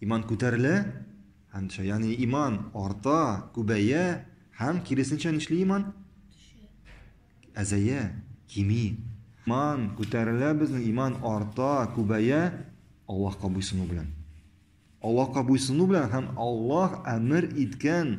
Иман күтәрелә һәм төшә. Ягъни иман арта, күбәя һәм киресенчә нишли иман? Әзәя, кими. Иман күтәрелә безнең, иман арта, күбәя Аллаһка буйсыну белән. Аллаһка буйсыну белән һәм Аллаһ әмер иткән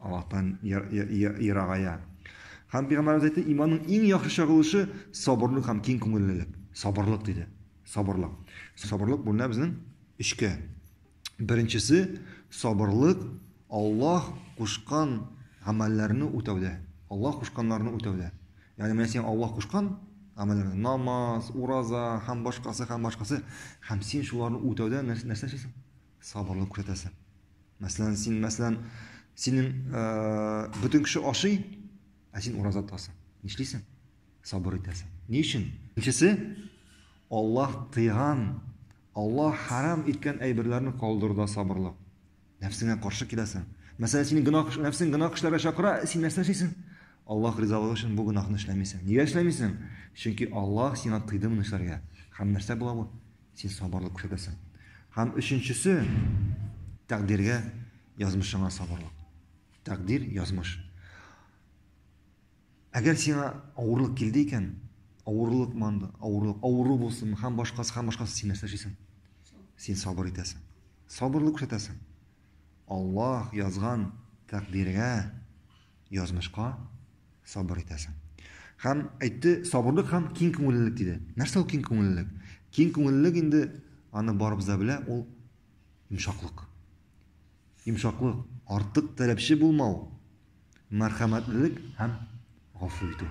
Аллаһтан ерагая. Һәм Пәйгамбәребез әйтте, иманның иң яхшы чагылышы сабырлык һәм киң күңеллелек. Сабырлык диде. Сабырлык. Сабырлык бүленә безнең өчкә. Беренчесе сабырлык Аллаһ кушкан гамәлләрне үтәүдә. Аллаһ кушканнарны үтәүдә. Ягъни менә син Аллаһ кушкан гамәлләрне, намаз, ураза һәм башкасы һәм башкасы, һәм син шуларны үтәүдә нәрсә эшлисең? Сабырлык күрсәтәсең. Мәсәлән, син, мәсәлән, синең бөтен кеше ашый, ә син ураза тотасың. Нишлисең? Сабыр итәсең. Ни өчен? Икенчесе, Аллаһ тыйган, Аллаһ харам иткән әйберләрне калдыруда сабырлык. Нәфсеңә каршы киләсең. Мәсәлән, синең гына нәфсең гына кешеләргә чакыра, син нәрсә эшлисең? Аллаһ ризалыгы өчен бу гынахны эшләмисең. Нигә эшләмисең? Чөнки Аллаһ сиңа тыйды моны эшләргә. Һәм нәрсә була бу? син сабырлык күрсәтәсең. Һәм өченчесе тәкъдиргә, язмышыңа сабырлык. Тәкъдир, язмыш. Әгәр сиңа авырлык килде икән, авырлык манды, авырлык, авыру булсын, һәм башкасы, һәм башкасы син нәрсә эшлисең? Син сабыр итәсең. Сабырлык күрсәтәсең. Аллаһ язган тәкъдиргә Язмышка сабыр итәсең. Һәм әйтте, сабырлык һәм киң күңеллелек диде. Нәрсә ул киң күңеллелек? Киң күңеллелек инде аны барыбыз да белә, ул йомшаклык. Йомшаклык, артык таләпче булмау, мәрхәмәтлелек һәм гафу итү.